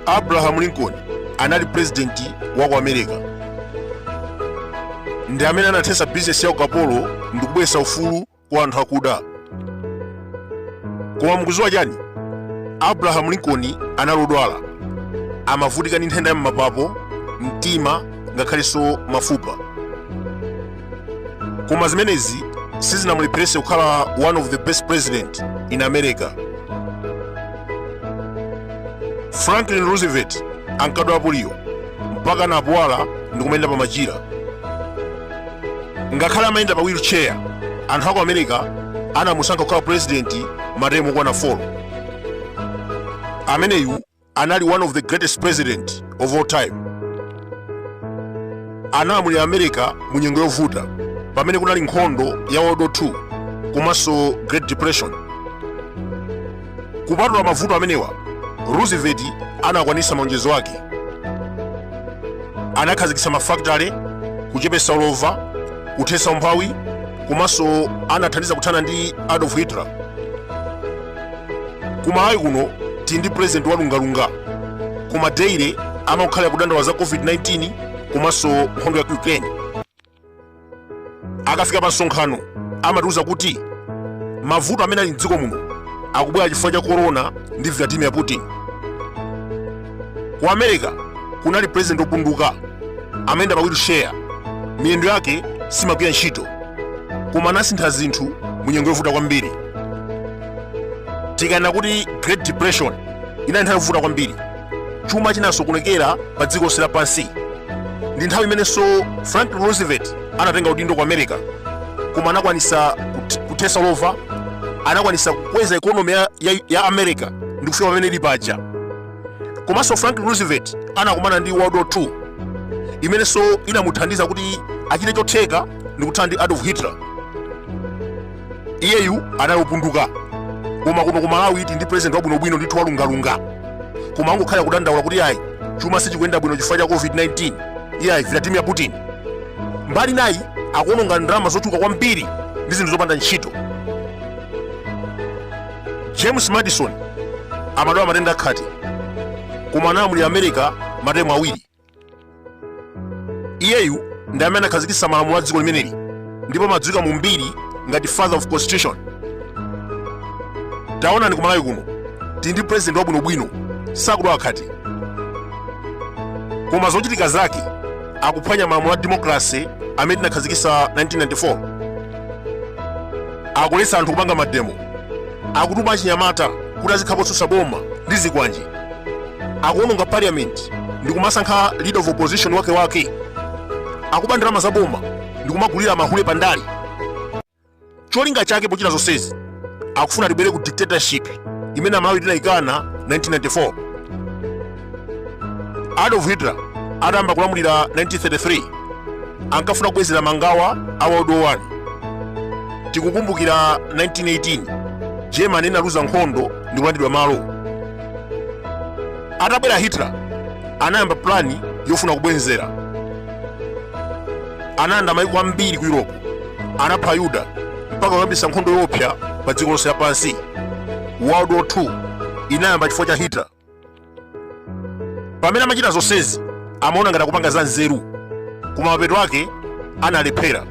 abraham lincoln anali purezidenti wa ku america ndi amene anathetsa bizinesi ya ukapolo ndi kubweretsa ufulu kwa anthu akuda koma mukuziwa chani abrahamu lincoln anali odwala amavutika ndi nthenda ya m'mapapo mtima ngakhalenso mafupa koma zimenezi sizinamulepherese kukhala one of the best president in america franklin roosevelt ankadwala poliyo mpaka anapuwala ndi kumayenda pa machira ngakhale amayenda pa wheelchair anthu aku america anamusankha kukhala president matemu okwana 4 ameneyu anali one of the greatest president of all time analamulira america mu nyengo yovuta pamene kunali nkhondo ya world war 2 komanso great depression Kupatula mavuto amenewa, Roosevelt anakwanitsa malonjezo ake. Anakhazikitsa mafakitale, kuchepetsa ulova, kuthetsa umphawi, komanso anathandiza kuthana ndi Adolf Hitler. Ku Malawi kuno tili ndi president wa lungalunga, koma daily amakukhalira kudandaula za COVID-19 komanso nkhondo ya ku Ukraine. akafika pa msonkhano amatiuza kuti mavuto amene ali mdziko muno akubwera chifukwa cha korona ndi vladimir putin ku america kunali president opunduka amayenda pa wheelchair miyendo yake simagwira ntchito koma anasintha zinthu mu nyengo yovuta kwambiri tikanena kuti great depression inali nthawi yovuta kwambiri chuma chinasokonekera pa dziko lonse lapansi ndi nthawi imenenso franklin roosevelt anatenga udindo ku america koma anakwanisa kut- kuthesa ulova anakwanisa kukweza ekonomi ya, ya, ya america ndi kufika pamene ili paja komanso franklin roosevelt anakumana ndi world war 2 imenenso inamuthandiza kuti achite chotheka ndi kuthana ndi adolf hitler iyeyu anali opunduka koma kuno ku malawi tili ndi president wabwinobwino ndithu walungalunga koma angokhala kudandaula kuti ayi chuma sichikuyenda bwino chifukwa cha covid-19 iye ayi vladimir putin mbali inayi akuononga ndalama zochuluka kwambiri ndi zinthu zopanda ntchito james madison amadwala matenda akhate koma analamulira america matemu awiri iyeyu ndi amene anakhazikitsa malamulo a dziko limeneli ndipo amadziwika mu mbiri ngati father of constitution taonani ku malawi kuno tili ndi president wabwinobwino sakudwala khate koma zochitika zake akuphwanya malamulo a demokrasi amene tinakhazikitsa 1994 akuletsa anthu kupanga mademo akutuma achinyamata kuti azikhapa otsutsa boma ndi zikwanje akuononga parliament ndi kumasankha leader of opposition wake wake akuba ndalama za boma ndi kumagulira mahule pa ndale cholinga chake pochita zonsezi akufuna tibwerere ku dictatorship imene amalawi tinayikana 1994 adolf hitler atayamba kulamulira 1933 ankafuna kubwezera mangawa a world war 1 tikukumbukira 1918 germany inaluza nkhondo ndi kulandidwa malo atabwera hitler anayamba plani yofuna kubwenzera anayenda maiko ambiri ku europe anapha ayuda mpaka kuyambisa nkhondo yoopsa pa dziko lonse lapansi world war 2 inayamba chifukwa cha hitler pamene amachita zonsezi amaona ngati akupanga za nzeru koma mapeto ake analephera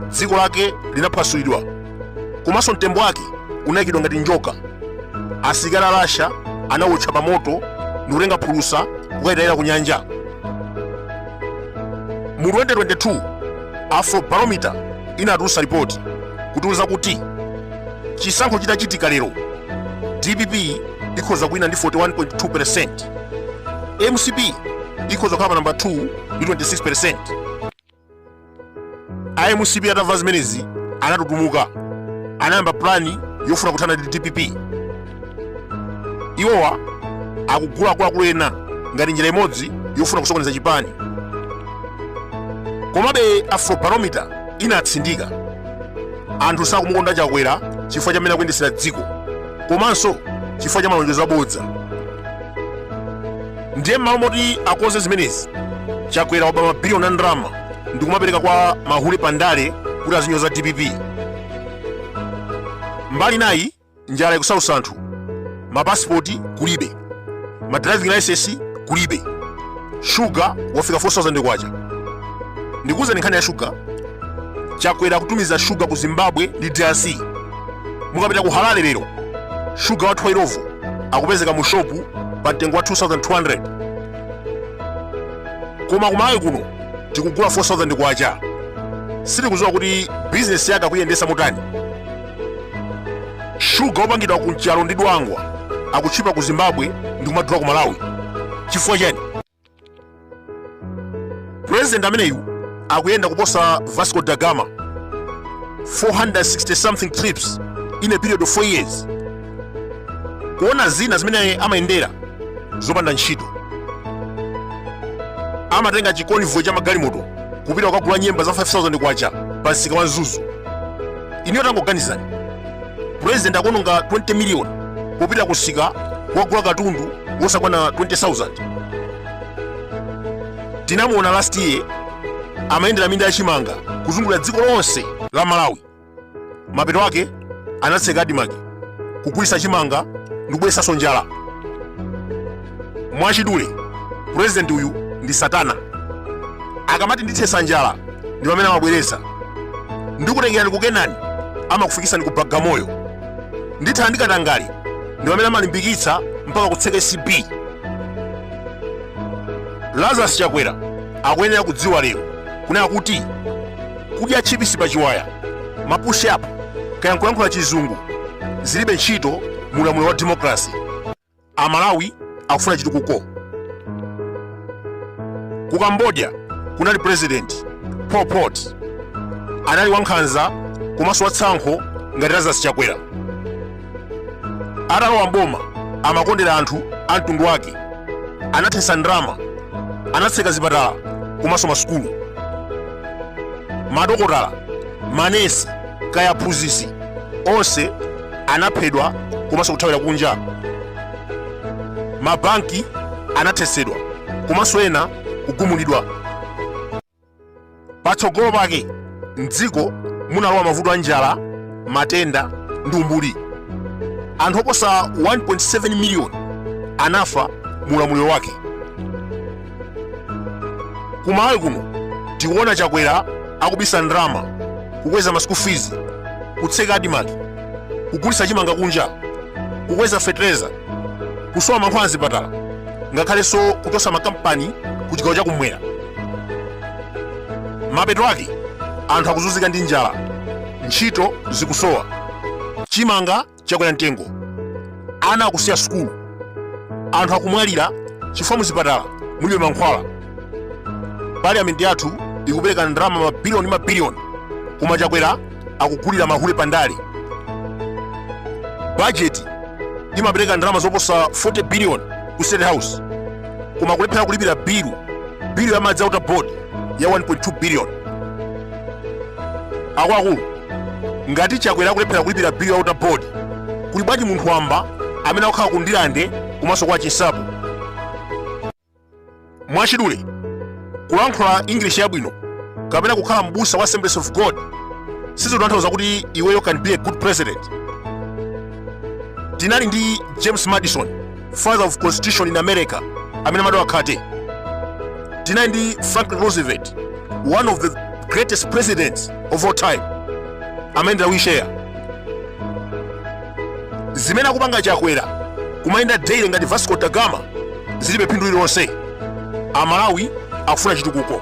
dziko lake linaphwasulidwa komanso mtembo wake unayikidwa ngati njoka asilikali a russia anawotcha pa moto ndikutenga phulusa kukalitayira ku nyanja mu 2022 afrobarometer inatulutsa ripoti kutiwuza kuti chisankho chitachitika lero dpp ikhoza kuwina ndi 41.2%. MCP ikhoza kukhala pa namba 2 ndi 26%. A MCP atamva zimenezi anatutumuka. Anayamba plani yofuna kuthana ndi dpp. Iwowa akugula akuluakulu ena ngati njira imodzi yofuna kusokoneza chipani. Komabe Afrobarometer inatsindika anthu sakumukonda Chakwera chifukwa cha mmene akuyendesera dziko. komanso chifukwa cha malonjezo abodza ndiye m'malo moti akonze zimenezi chakwera akuba mabiliyoni a ndalama ndi kumapereka kwa mahule pandale kuti azinyoza dpp mbali nayi njala ikusausa anthu mapasipoti kulibe ma driving license kulibe shuga wafika 4000 kwacha ndikuwuzani nkhani ya shuga chakwera akutumiza shuga ku zimbabwe ndi drc mukapita ku harare lero shuga wathu wa illovo akupezeka mu shopu pa mtengo wa 2200 koma kumwake kuno tikugula 4000 kwacha sitikudziwa kuti bizinesi yake akuiyendesa motani shuga wopangidwa ku nchalo ndi dwangwa akutchipa ku zimbabwe ndi kumadula ku malawi chifukwa chani purezidenti ameneyu akuyenda kuposa vasco da gama 460 something trips in a period of 4 years kuona zina zimene amayendera zopanda ntchito amatenga chikonvoyi cha magalimoto kupita kukagula nyemba za 5000 kwacha pa msika wa mzuzu ineyo tangoganizani president akuononga 20 million popita kumsika kukagula katundu wosakwana 20000 tinamuona last year amayendera minda yachimanga kuzungulira dziko lonse la malawi mapeto ake anatseka adimaki kugulitsa chimanga ndikubweretsanso njala mwachidule purezidenti uyu ndi satana akamati ndithetsa njala ndi pamene amabweretsa ndikutengerani kukenani amakufikitsani ku bagamoyo ndithana ndikatangali ndi pamene amalimbikitsa mpaka kutseka acb lazarus chakwera akuyenera kudziwa lero kunena kuti kudya chipisi pa chiwaya mapush up kaya nkulankhula chizungu zilibe ntchito mu ulamuliro wa demokrasi amalawi akufuna chitukuko ku cambodia kunali president pol pot anali wankhanza komanso watsankho ngati lazarus chakwera atalowa mboma amakondera anthu a mtundu wake anathetsa ndalama anatseka zipatala komanso masukulu madokotala manesi kaya aphunzitsi onse anaphedwa komanso kuthawira kunja mabanki anathetsedwa komanso ena kugumulidwa patsogolo pake mdziko munalowa mavuto a njala matenda ndi umbuli anthu oposa 1.7 miliyoni anafa mu ulamuliro wake kumalawi kuno tikuona chakwera akubisa ndalama kukweza ma school fees kutseka adimaki kugulitsa chimanga kunja kukweza fetereza kusowa mankhwala mzipatala ngakhalenso kuchotsa makampani ku chigawo chakumwera mapeto ake anthu akuzunzika ndi njala ntchito zikusowa chimanga chakwera mtengo ana akusiya sukulu anthu akumwalira chifukwa muzipatala mulibe mankhwala parliament yathu ikupereka ndalama mabiliyoni mabiliyoni koma chakwera akugulira mahule pandale bajeti imapereka ndalama zoposa 40 billion ku state house koma kulephera kulipira bilu bilu ya madzi a water board ya 1.2 billion akuluakulu ngati chakwera akulephera kulipira bill ya water board kuli bwanji munthu wamba amene akukhala ku ndilande komanso kwa chinsapo mwachidule kulankhula english yabwino kapena kukhala mbusa wa assemblies of god sizotanthauza kuti iweyo can be a good president tinali ndi james madison father of constitution in america amene amadwala khate tinali ndi franklin roosevelt one of the greatest presidents of all time amayendera wheelchair zimene akupanga chakwera kumayenda daily ngati vasco da gama zilibe phindu lililonse amalawi akufuna chitukuko